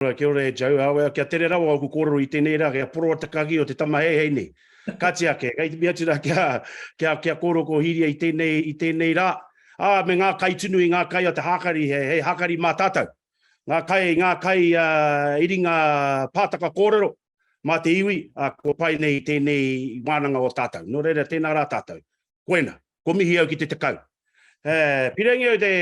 Ora, kia ora e Joe, awe, kia tere rawa oku korero i tenei ra, kia poroa te kagi o te tamaheihei nei. Ka tia ke, kei te mea atu ra kia, kia, kia korero ko Hiria i tenei, i tenei ra, a, me nga kai tunu i nga kai o te hakari, he, he hakari ma tatou. Nga kai, nga kai a, i ringa pataka korero, ma te iwi, a, kua pai nei i tenei wananga o tatou. No reira, tena ra tatou. Koena. Kua mihi au ki te tekau. E, pire nge au te,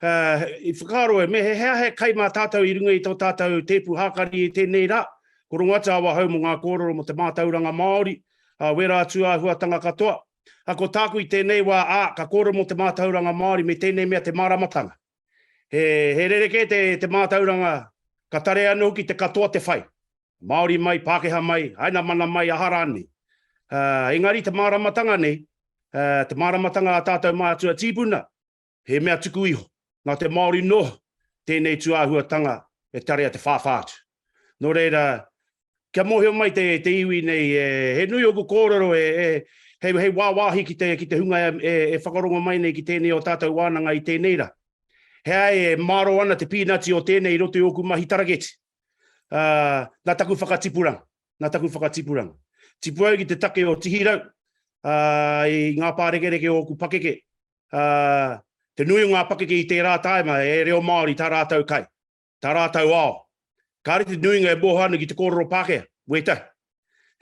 Uh, I whakaaro e, me he hea he kai mā tātou i runga i tō tātou tēpu hākari i tēnei rā, ko runga atu awa hau mo ngā kōrero mo te mātauranga Māori, uh, wērā atu āhuatanga katoa. Uh, ko tāku i tēnei wā, ā, uh, ka kōrero mo te mātauranga Māori me tēnei mea te māramatanga. He, he rereke te, te mātauranga, ka tare anō hoki te katoa te whai. Māori mai, Pākehā mai, aina mana mai, aha rānei. Uh, engari te māramatanga nei, uh, te māramatanga a tātou mātua tīpuna, He mea tuku iho, nā te Māori noa tēnei tūāhuatanga e tarea te whāwhā atu. Nō reira, kia mōhio mai te, te iwi nei, e, he nui ōku kōrero e, e, hei, hei wāwāhi ki te, ki te hunga e, e, e whakarongo mai nei ki tēnei o tātou wānanga i tēnei rā. He ai e māro ana te pīnati o tēnei i roto i ōku mahi taraketi. Ā, nā taku whakatipuranga, nā taku whakatipuranga. Tipu au ki te take o Tihirau, ā, i ngā pārekereke o ōku pakeke, ā, te nui o ngā pakeke i tērā tāima he reo Māori tā rātou kai, tā rātou ao. Kāre te nuinga e moho ana ki te kōrero Pākehā, wētahi.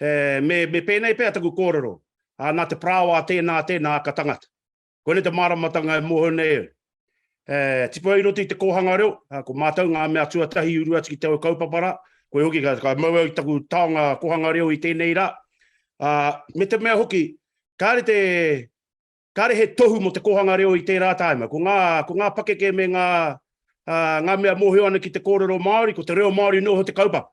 He, me, me pēnei pea taku kōrero, ā, nā te parāoa tēnā, tēnā aka tangata. Koinei te māramatanga e moho nei au. He, tipu au i roto i te kōhanga reo, ā, ko mātou ngā mea tuatahi i uru atu ki te ō kaupapa rā, koe hoki ka, ka mau au i taku taonga kōhanga reo i tēnei rā, ā, me te mea hoki, kāre te, Kāre he tohu mō te kōhanga reo i tērā tāima. Ko ngā, ko ngā pakeke me ngā, ā, ngā mea mōhio ana ki te kōrero Māori, ko te reo Māori nō ho te kaupapa.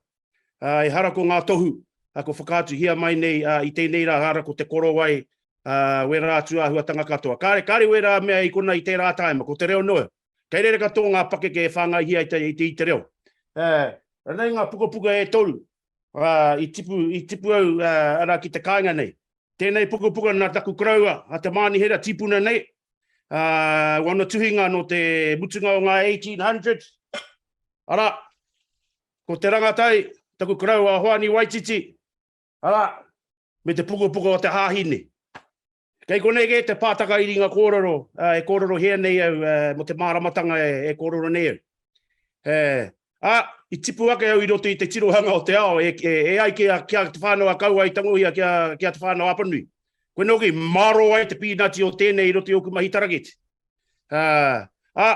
Ā, ehara ko ngā tohu, ā, kua whakaatuhia mai nei, ā, i tēnei rā, ehara ko te korowai, ā, wērā atu āhuatanga katoa. Kāre, kāre wērā mea i konā i tērā tāima, ko te reo nō. Kei reira katoa ngā pakeke e whāngaihia ai i te, i te reo. E, ranei ngā pukapuka e toru a, i, tipu, i tipu au a, ara ki te kāinga nei. Tēnei pukapuka nā taku koroua a Te Mānihera tīpuna nei, a, wana tuhinga nō te mutunga o ngā 1800s. Ara, ko te rangatai, taku koroua a Hoani Waititi, ara, me te pukapuka o te hāhi nei. Kei konei kē te pātaka i ringa kōrero, e kōrerohia nei au mō te māramatanga e kōrero nei au. Ā, i tipu ake au i roto i te tirohanga o te ao e ai ki a Te Whānau a Kauae i tangohia ki a Te Whānau a Apanui. Koinei hoki i mārō ai te pīnati o tēnei i roto i ōku mahi tarakete. Ā,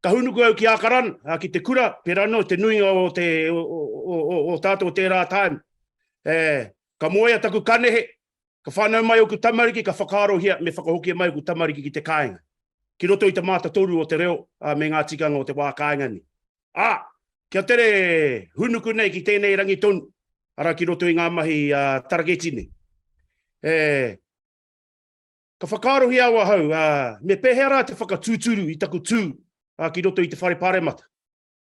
ka hūnuku au ki Ākaran, ki te kura, pērā noa i te nuinga o te, o tātou o tērā taim. Ka moea taku kanehe, Ka whānau mai ōku tamariki, ka whakaarohia me whakahokia mai ōku tamariki ki te kāinga, ki roto i te mātatoru o te reo, ā, me ngā tikanga o te wā kāinga nei. Ā, kia tere hūnuku nei ki tēnei rangi tonu, arā, ki roto i ngā mahi taraketi nei. E, ka whakaarohia au ahau, ā, me pēhea rā te whakatūturu i taku tū ki roto i te Whare Pāremata?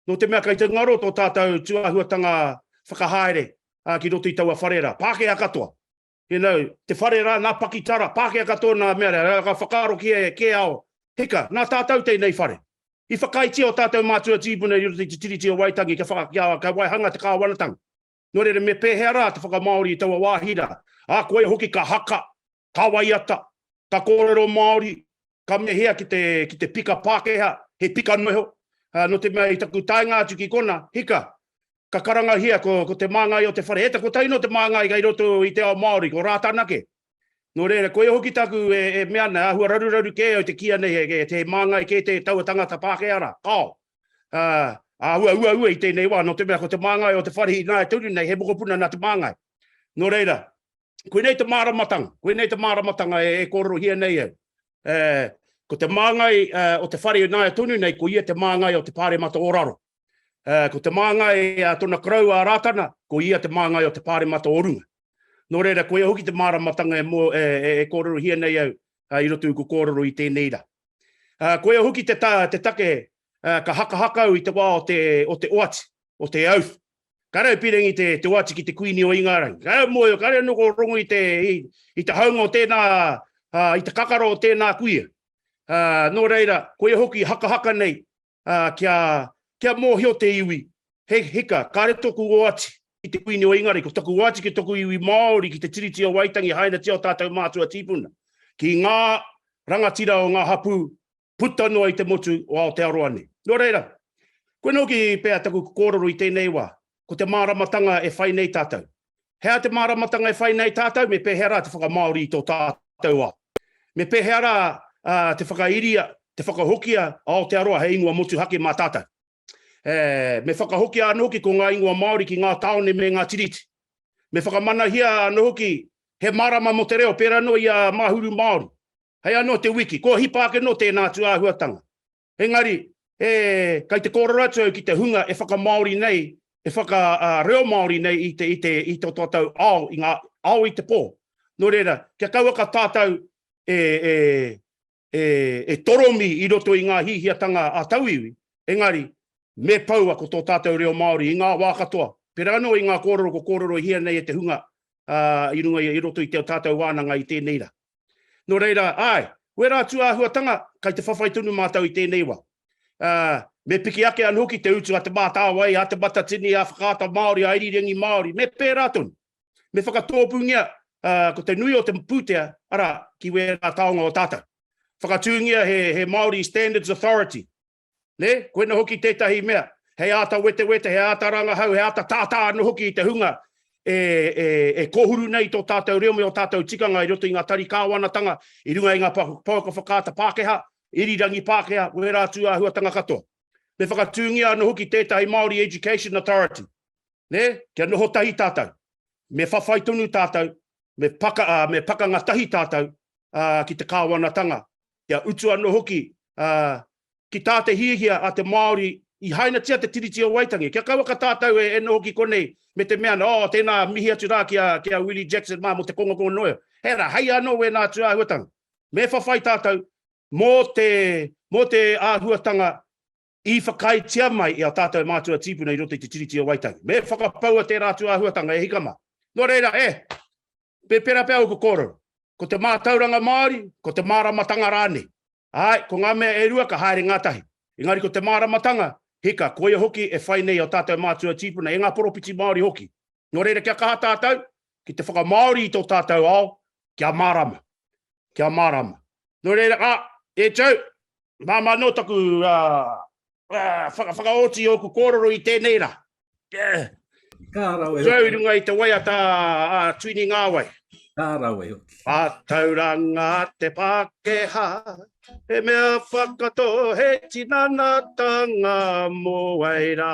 Nō te mea kei te ngaro tō tātou tūāhuatanga whakahaere ki roto i taua whare rā, Pākehā katoa. You know, te whare rā, nā pakitara, Pākehā katoa nā mea rā, ka whakaaro ki e kē ao, hika, nā tātou tēnei whare. I whakaaetia ō tātou mātua tīpuna i roto i te Tiriti o Waitangi kia waihanga te kāwanatanga. Nō reira, me pēhea rā te whakamāori i taua wāhi rā? Ā, koia hoki ka haka, ka waiata, ka kōrero Māori, ka mehea ki te, ki te pika Pākehā, he pika noho. Ā, nō te mea i taku taenga atu ki kona, hika, ka karangahia ko, ko te māngai o te whare. He ta kotahi nō te māngai kai roto i te ao Māori, ko Rātana kē. Nō reira, koia hoki taku e, e mea ana, āhua raruraru kē au te kīia nei he, he, he māngai kē te taua tangata Pākehā rā. Kao, āhua uaua i tēnei wā, nō te mea ko te māngai o te whare i nāia tonu nei, he mokopuna nā te māngai. Nō reira, koinei te māramatanga, koinei te māramatanga e kōrerohia nei au. E, ko te māngai o te whare i nāia tonu nei, ko ia te māngai o te pāremata o raro. E, ko te māngai a tona karau a Rātana, ko ia te māngai o te pāremata o runga. Nō reira, ko ia hoki te māramatanga e, mō, e, e, e kōrerohia nei au, i roto i ko kōrero i tēnei rā. Koia hoki te take ka hakahaka au i te wā o te oati, o te auth. Kare au pirangi te oati ki te Kuini o Ingarangi. Kare au moe, kare au noho rongo i te haunga o tēnā, i te kakara o tēnā kuia. Nō reira, koia hoki hakahaka nei kia, kia mōhio te iwi, he hika, kāre tōku oati ki te Kuini o Ingarangi, ko taku oati ki toku iwi Māori ki te Tiriti o Waitangi, hainatia o tātou mātua tīpuna, ki ngā rangatira o ngā hapū puta noa i te motu o Aotearoa nei. Nō reira, koinā hoki pea taku kōrero i tēnei wā, ko te māramatanga e whai nei tātou. He aha te māramatanga e whai nei tātou, me pēhea rā te whakamāori i tō tātou ao? Me pēhea rā te whakairia, te whakahokia a Aotearoa hei ingoa motuhake mā tātou? E, me whakahokia anō hoki ko ngā ingoa Māori ki ngā tāone me ngā tiriti. Me whakamanahia anō hoki he marama mo te reo pērā noa i a Mahuru Māori. Hei anō te wiki, kua hipa ake nō tēnā atu āhuatanga. Engari, e, kai te kōrero atu au ki te hunga e whakamāori nei, e whaka, ā, reo Māori nei i te, i te, i tō tātou ao, i ngā ao i te pō. Nō reira, kia kauaka tātou e, e, e, e toromi i roto i ngā hihiatanga a tauiwi, engari, me poua ko tō tātou reo Māori i ngā wā katoa, pera anō i ngā kōrero ko kōrerohia nei e te hunga, ā, i runga i, i roto i te o tātou wānanga i tēnei rā. Nō reira, āe, wērā atu āhuatanga, kei te whawhai tonu mātou i tēnei wā. Ā, me piki ake anō ki te utu a Te Mātāwai, a Te Matatini, a Whakaata Māori, a Irirangi Māori, me pērā tonu. Me whakatōpūngia, ā, ko te nui o te pūtea, arā, ki wērā taonga o tātou. Whakatūngia he, he Māori Standards Authority, Nē? Koina hoki tētahi mea, hei āta wetewete, hei āta rangahau, hei āta tātā anō hoki i te hunga e, e, e kōhuru nei tō tātou reo me ō tātou tikanga i roto i ngā tari kāwanatanga, i runga i ngā pouaka whakaata Pākehā, irirangi Pākehā, wērā atu āhuatanga katoa. Me whakatūngia anō hoki tētahi Māori Education Authority, nē? Kia noho tahi tātou, me whawhai tonu tātou, me, paka, ā, me pakanga tahi tātou, ā, ki te kāwanatanga, kia utu anō hoki ki tā te hiahia a te Māori i hainatia te Tiriti o Waitangi. Kia kaua ka tātau e noho ki konei me te mea nā, oh, tēnā, mihi atu rā ki a Willie Jackson mā mō te kongakonga noa iho. Hei rā, hei anō wēnā atu āhuatanga. Me whawhai tātau mō te āhuatanga i whakaaetia mai e ō tātou mātua tīpuna i roto i te Tiriti o Waitangi. Me whakapaua tērā atu āhuatanga, e hika mā. Nō reira, e! Me pērā pea ōku kōrero. Ko te mātauranga Māori, ko te māramatanga rānei. Āe, ko ngā mea e rua ka haere ngātahi. Engari ko te māramatanga, hika, koia hoki e whai nei ō tātou mātua tīpuna, e ngā poropiti Māori hoki. Nō reira, kia kaha tātou, ki te whakamāori i tō tātou ao, kia mārama, kia mārama. Nō reira, ā, e Joe, māmā anō taku whakaoti ōku kōrero i tēnei rā. Kā rawe. Joe, runga i te waiata a Tuini Ngāwai. Kā rawe. A tauranga te Pākehā, he mea whakato he tinanatanga mō wai rā.